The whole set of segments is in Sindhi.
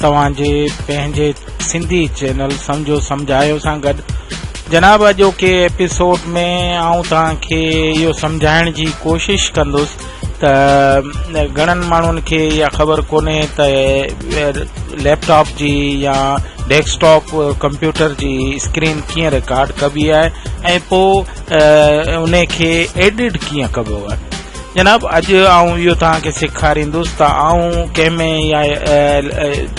توهان جي پنهنجي سنڌي چينل سمجهو سمجهايو سان گڏ جناب اڄوڪي ايپيسوڊ ۾ آئون توهان کي اهو سمجهائڻ جي ڪوشش ڪندس ته گهڻن ماڻهن کي اها خبر ڪونهي ته ليپ ٽاپ جي يا ڊيسڪٽاپ ڪمپيوٽر جي اسڪرين ڪيئن رڪارڊ ڪبي آهي ۽ پوء ان کي ايڊٽ ڪيئن ڪبو آهي جناب اڄ آئون اهو توهان کي سيکاريندس ته آئون ڪنهن ۾ يا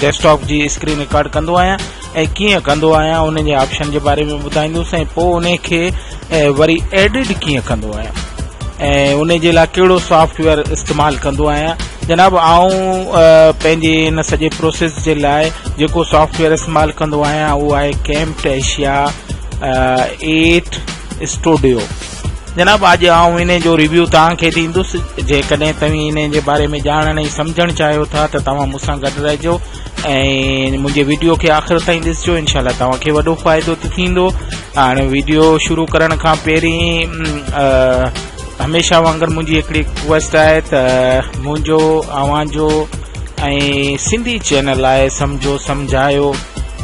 ڊيسڪٽاپ جي اسڪرين رڪارڊ ڪندو آهيان ۽ ڪيئن ڪندو آهيان ان جي آپشن جي باري ۾ ٻڌائيندس ۽ پوء ان کي وري ايڊٽ ڪيئن ڪندو آهيان ۽ ان جي لاء کيڙو سافٽ ويئر استعمال ڪندو آهيان جناب آئون پنهنجي ان سڄي پروسيس جي لاء جيڪو سافٽ ويئر استعمال ڪندو آهيان اهو آهي ڪيمپ ٽيشيا ايٽ اسٽوڊيو جناب اڄ آئون انهي جو ريويو توهان کي ڏيندس جيڪڏهن توهين انهي جي باري ۾ ڄاڻڻ ۽ سمجهڻ چاهيو ٿا ته توهان مون سان گڏ رهجو ۽ منهنجي ويڊيو کي آخر تائين ڏسجو انشاء الله توهان کي وڏو فائدو ته ٿيندو هاڻي ويڊيو شروع ڪرڻ کان پهرين هميشه وانگر منهنجي هڪڙي ڪويسٽ آهي ته منهنجو اوهان جو ۽ سنڌي چينل آء سمجهو سمجهايو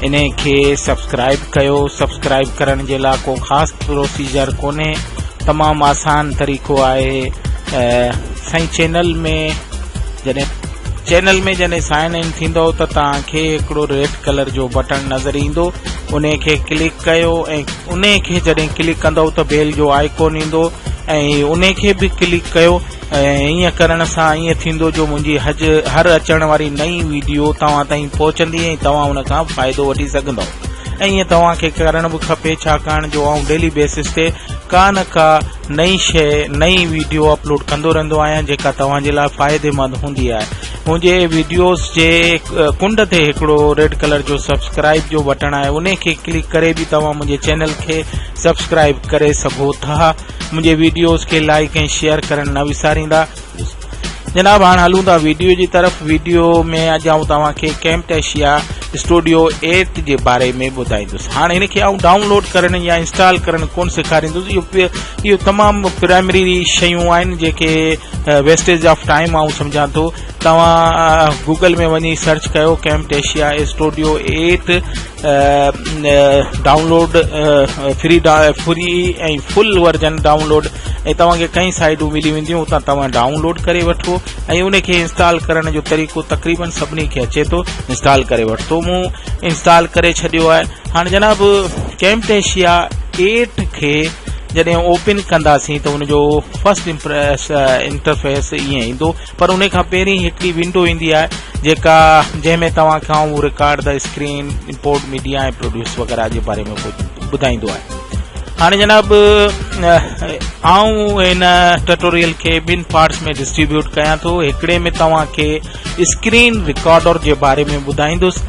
انهي کي سبسڪرائب ڪيو سبسڪرائب ڪرڻ جي لا ڪو خاص پروسيجر ڪونهي تمام آسان طريقو آهي سائين چينل ۾ جڏهن چينل ۾ جڏهن سائن ان ٿيندو ته تان کي هڪڙو ريڊ ڪلر جو بٽن نظر ايندو ان کي ڪلڪ ڪيو ۽ ان کي جڏهن ڪلڪ ڪندو ته بيل جو آئيڪون ايندو ۽ ان کي به ڪلڪ ڪيو ۽ ايئن ڪرڻ سان ايئن ٿيندو جو منهنجي حج هر اچڻ واري نئين ويڊيو توهان تائين پهچندي ۽ توهان ان کان فائدو وٺي سگهندو ۽ ايئن توهان کي ڪرڻ به کپي ڇاڪاڻ جو آئون ڊيلي بيسس تي ڪا نه ڪا نئين شيء نئين ويڊيو اپلوڊ ڪندو رهندو آهيان جيڪا توهان جي لاء فائدي مند هوندي آهي منهنجي ويڊيوز جي ڪنڊ تي هڪڙو ريڊ ڪلر جو سبسڪرائب جو بٽڻ آهي ان کي ڪلڪ ڪري به توهان منهنجي چينل کي سبسڪرائب ڪري سگهو ٿا منهنجي ويڊيوز کي لائڪ ۽ شيئر ڪرڻ نه وساريندا جناب هاڻ هلون ٿا ويڊيو جي طرف ويڊيو ۾ اڄ آئون توهان کي ڪيمپ ايشيا اسٽوڊيو ايپ جي باري ۾ ٻڌائيندس هاڻ هن کي آئون ڊائونلوڊ ڪرڻ يا انسٽال ڪرڻ ڪون سيکاريندس اهو اهو تمام پرائمري شيون آهن جيڪي ويسٽيج آف ٽائيم آئون سمجهان ٿو توهان گوگل ۾ وڃي سرچ ڪيو Camtasia studio app download free free ۽ full version download ۽ توهان کي ڪئين سائيڊون ملي وينديون اتان توهان ڊائونلوڊ ڪري وٺو ۽ ان کي انسٽال ڪرڻ جو طريقو تقريبن سڀني کي اچي ٿو انسٽال ڪري وٺو مون انسٽال ڪري ڇڏيو آهي هاڻي جناب ڪيمٽيشيا ايٽ کي جڏهن اوپن ڪنداسين ته ان جو فرسٽ انٽرفيس ائين ايندو پر انهي کان پهرين هڪڙي ونڊو ايندي آهي جيڪا جنهن ۾ توهان کي اهو رڪارڊ ته اسڪرين امپورٽ ميڊيا ۽ پروڊيوس وغيره جي باري ۾ ٻڌائيندو آهي هاڻي جناب آئون ان ٽيٽوريل کي ٻن پارٽس ۾ ڊسٽريبيوٽ ڪيان ٿو هڪڙي ۾ توهان کي اسڪرين رڪارڊر جي باري ۾ ٻڌائيندس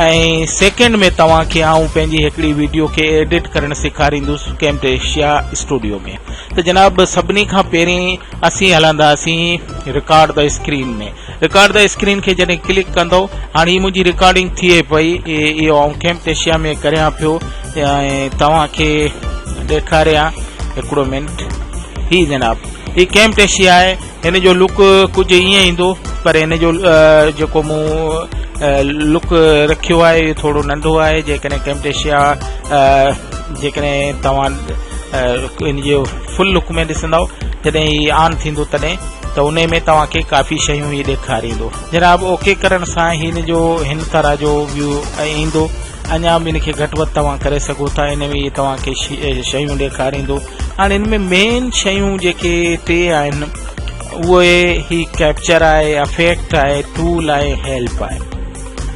۽ سيڪنڊ ۾ توهان کي آئون پنهنجي هڪڙي ويڊيو کي ايڊيٽ ڪرڻ سيکاريندس ڪيمٽيشيا اسٽوڊيو ۾ ته جناب سڀني کان پهرين اسين هلنداسين record the screen ۾ record the screen کي جڏهن ڪلڪ ڪندو هاڻي هي منهنجي رڪارڊنگ ٿئي پئي اهو آئون ڪيمٽيشيا ۾ ڪريان پيو ۽ توهان کي ڏيکاريان هڪڙو منٽ هي جناب هي ڪيمٽيشيا آهي هن جو لڪ ڪجهه ائين ايندو پر هن جو جيڪو مون لڪ رکيو آهي اهو ٿورو ننڍو آهي جيڪڏهن ڪيمٽيشيا جيڪڏهن توهان ان جو فل لڪ ۾ ڏسندؤ جڏهن هي آن ٿيندو تڏهن ته انهي ۾ توهان کي ڪافي شيون هي ڏيکاريندو جناب اوڪي ڪرڻ سان هن جو هن طرح جو ويو ايندو اڃا به ان کي گهٽ وڌ توهان ڪري سگهو ٿا ان ۾ توهان کي شيون ڏيکاريندو هاڻي ان ۾ مين شيون جيڪي ٽي آهن اهي هي ڪيپچر آهي افيڪٽ آهي ٽول آهي هيلپ آهي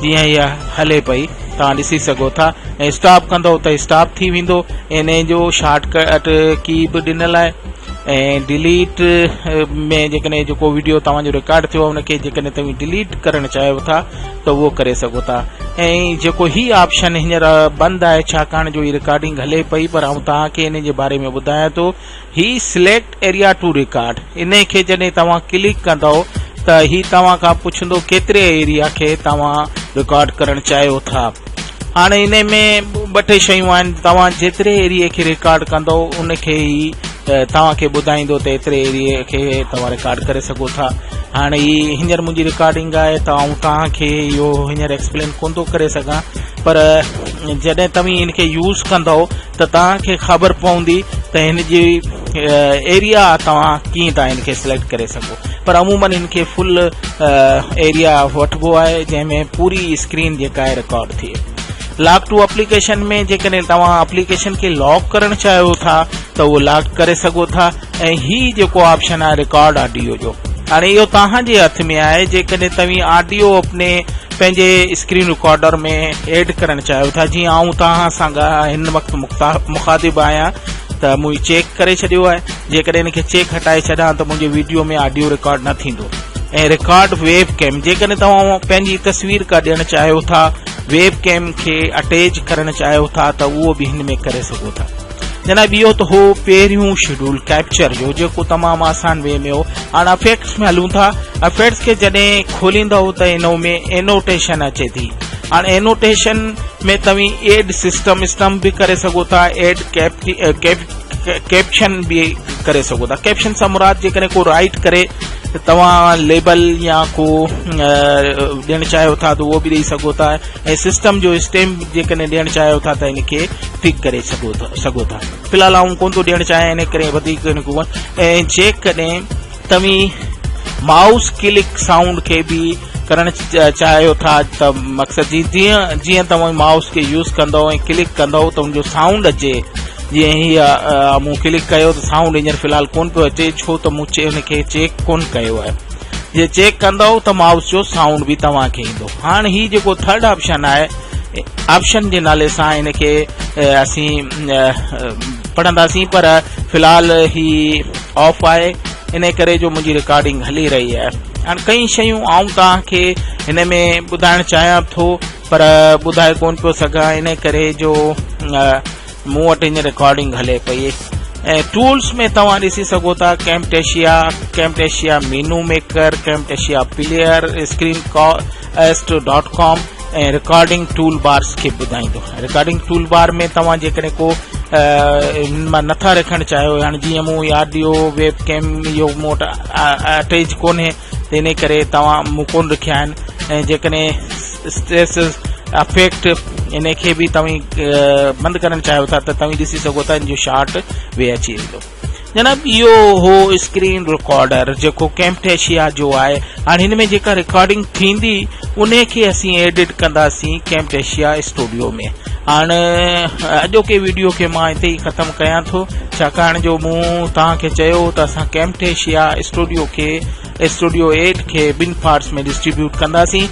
جيئن هيء هلي پئي توهان ڏسي سگهو ٿا ۽ اسٽاپ ڪندو ته اسٽاپ ٿي ويندو ان جو شارٽ ڪٽ ڪي به ڏنل آهي ۽ ڊيليٽ ۾ جيڪڏهن جيڪو ويڊيو توهان جو رڪارڊ ٿيو ان کي جيڪڏهن توهان ڊيليٽ ڪرڻ چاهيو ٿا ته اهو ڪري سگهو ٿا ۽ جيڪو هي آپشن هينئر بند آهي ڇاڪاڻ جو هي رڪارڊنگ هلي پئي پر آئون توهان کي ان جي باري ۾ ٻڌايان ٿو هي سليڪٽ ايريا ٽو ريڪارڊ انهي کي جڏهن توهان ڪلڪ ڪندو ته هي توهان کان پڇندو ڪيتري ايريا کي توهان ريڪارڊ ڪرڻ چاهيو ٿا هاڻي انهي ۾ ٻه ٽي شيون آهن توهان جيتري ايريا کي ريڪارڊ ڪندو ان کي هي توهان کي ٻڌائيندو ته ايتري ايريا کي توهان ريڪارڊ ڪري سگهو ٿا هاڻي هي هينئر منهنجي ريڪارڊنگ آهي ته آئون توهان کي اهو هينئر ايڪسپلين ڪونه ٿو ڪري سگهان پر جڏهن توهين ان کي يوز ڪندو ته توهان کي خبر پوندي ته هن جي ايريا توهان ڪيئن ٿا هن کي سليڪٽ ڪري سگهو پر عمومن هن کي فل ايريا وٺبو آهي جنهن ۾ پوري اسڪرين جيڪا آهي رڪارڊ ٿئي لاڪ ٽو اپليڪيشن ۾ جيڪڏهن توهان اپليڪيشن کي لاڪ ڪرڻ چاهيو ٿا ته اهو لاڪ ڪري سگهو ٿا ۽ هي جيڪو آپشن آهي رڪارڊ آڊيو جو هاڻي اهو توهان جي هٿ ۾ آهي جيڪڏهن توهين آڊيو اپني پنهنجي اسڪرين رڪارڊر ۾ ايڊ ڪرڻ چاهيو ٿا جيئن آئون توهان سان هن وقت مخاطب آهيان ته منهنجي چيڪ ڪري ڇڏيو آهي جيڪڏهن ان کي چيڪ هٽائي ڇڏان ته منهنجي ويڊيو ۾ آڊيو رڪارڊ نه ٿيندو ۽ رڪارڊ ويب ڪيم جيڪڏهن توهان پنهنجي تصوير ڪا ڏيڻ چاهيو ٿا ويب ڪيم کي اٽيچ ڪرڻ چاهيو ٿا ته اهو به هن ۾ ڪري سگهو ٿا جناب اهو ته هو پهريون شيڊول ڪيپچر جو جيڪو تمام آسان وي ۾ هو هاڻ افيڪٽس ۾ هلون ٿا افيڪٽس کي جڏهن کوليندا هو ته انو ۾ انوٽيشن اچي ٿي هاڻ انوٽيشن ۾ توهين ايڊ سسٽم اسٽم به ڪري سگهو ٿا ايڊ ڪيپشن به ڪري سگهو ٿا ڪيپشن سان مراد جيڪڏهن ڪو رائٽ ڪري ته توهان ليبل يا ڪو ڏيڻ چاهيو ٿا ته اهو به ڏيئي سگهو ٿا ۽ سسٽم جو اسٽيمپ جيڪڏهن ڏيڻ چاهيو ٿا ته ان کي ٺيڪ ڪري سگهو ٿا في الحال آئون ڪون ٿو ڏيڻ چاهيان ان ڪري وڌيڪ ان کي ۽ جيڪڏهن توهين مائوس ڪلڪ سائونڊ کي به ڪرڻ چاهيو ٿا ته مقصد جي جيئن جيئن توهان مائوس کي يوز ڪندو ۽ ڪلڪ ڪندو ته ان جو سائونڊ اچي جيئن هي مون ڪلڪ ڪيو ته سائونڊ هينئر في الحال ڪون پيو اچي ڇو ته مون ان کي چيڪ ڪون ڪيو آهي جي چيڪ ڪندو ته مائوس جو سائونڊ به توهان کي ايندو هاڻ هي جيڪو ٿرڊ آپشن آهي آپشن جي نالي سان ان کي اسين پڙهنداسين پر في الحال هي آف آهي ان ڪري جو منهنجي رڪارڊنگ هلي رهي آهي هاڻ ڪئين شيون آئون توهان کي هن ۾ ٻڌائڻ چاهيان ٿو پر ٻڌائي ڪون پيو سگهان ان ڪري جو مون وٽ هينئر رڪارڊنگ هلي پئي ۽ ٽولس ۾ توهان ڏسي سگهو ٿا Camtasia Camtasia menu maker Camtasia player screen caste dot com ۽ recording tool bars کي ٻڌائيندو رڪارڊنگ ٽول بار ۾ توهان جيڪڏهن ڪو هن مان نٿا رکڻ چاهيو هاڻي جيئن مون آڊيو ويب ڪيم اهو مون وٽ اٽيچ ڪونهي تنهن ڪري توهان مون ڪون رکيا آهن ۽ جيڪڏهن اسٽريس افيڪٽ ان کي به توهين بند ڪرڻ چاهيو ٿا ته توهين ڏسي سگهو ٿا ان جو شارٽ وي اچي ويندو جناب اهو هو اسڪرين رڪارڊر جيڪو ڪيمپٽيشيا جو آهي هاڻ هن ۾ جيڪا رڪارڊنگ ٿيندي ان کي اسين ايڊٽ ڪنداسين ڪيمپٽيشيا اسٽوڊيو ۾ هاڻ اڄوڪي ويڊيو کي مان هتي ئي ختم ڪيان ٿو ڇاڪاڻ جو مون توهان کي چيو ته اسان ڪيمٽيشيا اسٽوڊيو کي اسٽوڊيو ايٽ کي ٻن فارس ۾ ڊسٽريبيوٽ ڪنداسين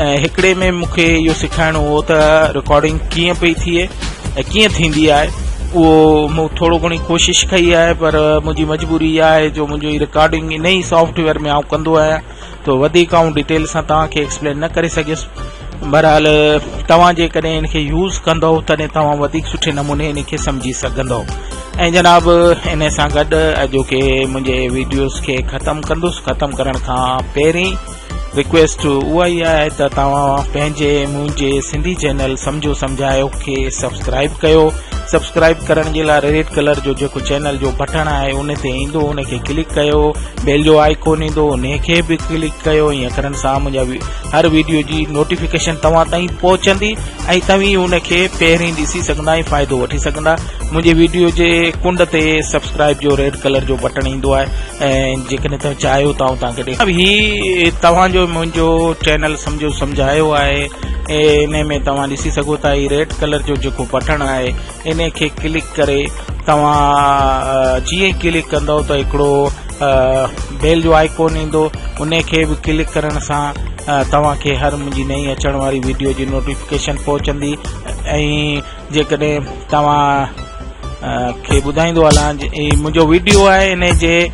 ۽ هڪڙي ۾ مون کي اهو سيکارڻو هو ته رڪارڊنگ ڪيئن پئي ٿئي ۽ ڪيئن ٿيندي آهي اهو مون ٿورو گهڻي ڪوشش ڪئي آهي پر منهنجي مجبوري اها آهي جو منهنجو هي رڪارڊنگ انهي سافٽويئر ۾ آئون ڪندو آهيان تو وڌيڪ آئون ڊيٽيل سان توهان کي ايڪسپلين نه ڪري سگهيس بهرحال توهان جي ڪڏهن ان کي يوز ڪندو تڏهن توهان وڌيڪ سٺي نموني ان کي سمجهي سگهندو ۽ جناب ان سان گڏ اڄو کي منهنجي ويڊيوز کي ختم ڪندس ختم ڪرڻ کان پهرين رڪويسٽ اها ئي آهي ته توهان پنهنجي منهنجي سنڌي چينل سمجهو سمجهايو کي سبسڪرائب ڪيو سبسڪرائب ڪرڻ جي لاء ريڊ ڪلر جو جيڪو چينل جو بٽڻ آهي ان تي ايندو ان کي ڪلڪ ڪيو بيل جو آئيڪون ايندو ان کي به ڪلڪ ڪيو ۽ اکرن سان منهنجا هر ويڊيو جي نوٽيفڪيشن توهان تائين پهچندي ۽ توهين ان کي پهرين ڏسي سگهندا ۽ فائدو وٺي سگهندا منهنجي ويڊيو جي ڪنڊ تي سبسڪرائب جو ريڊ ڪلر جو بٽڻ ايندو آهي ۽ جيڪڏهن توهان چاهيو ته آئون توهان کي هي توهان جو منهنجو چينل سمجهو سمجهايو آهي ان ۾ توهان ڏسي سگهو ٿا هي ريڊ ڪلر جو جيڪو بٽڻ آهي انهي کي ڪلڪ ڪري توهان جيئن ئي ڪلڪ ڪندو ته هڪڙو بيل جو آئيڪون ايندو انهي کي به ڪلڪ ڪرڻ سان توهان کي هر منهنجي نئين اچڻ واري ويڊيو جي نوٽيفڪيشن پهچندي ۽ جيڪڏهن توهان کي ٻڌائيندو هلان منهنجو ويڊيو آهي انهي جي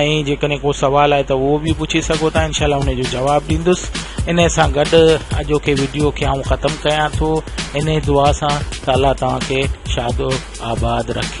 ۽ جيڪڏهن ڪو سوال آهي ته اهو به پڇي سگهو ٿا انشاء الله ان جو جواب ڏيندس ان سان گڏ اڄوڪي ويڊيو کي آئون ختم ڪيان ٿو ان دعا سان ته الله توهان کي شاد و آباد رکي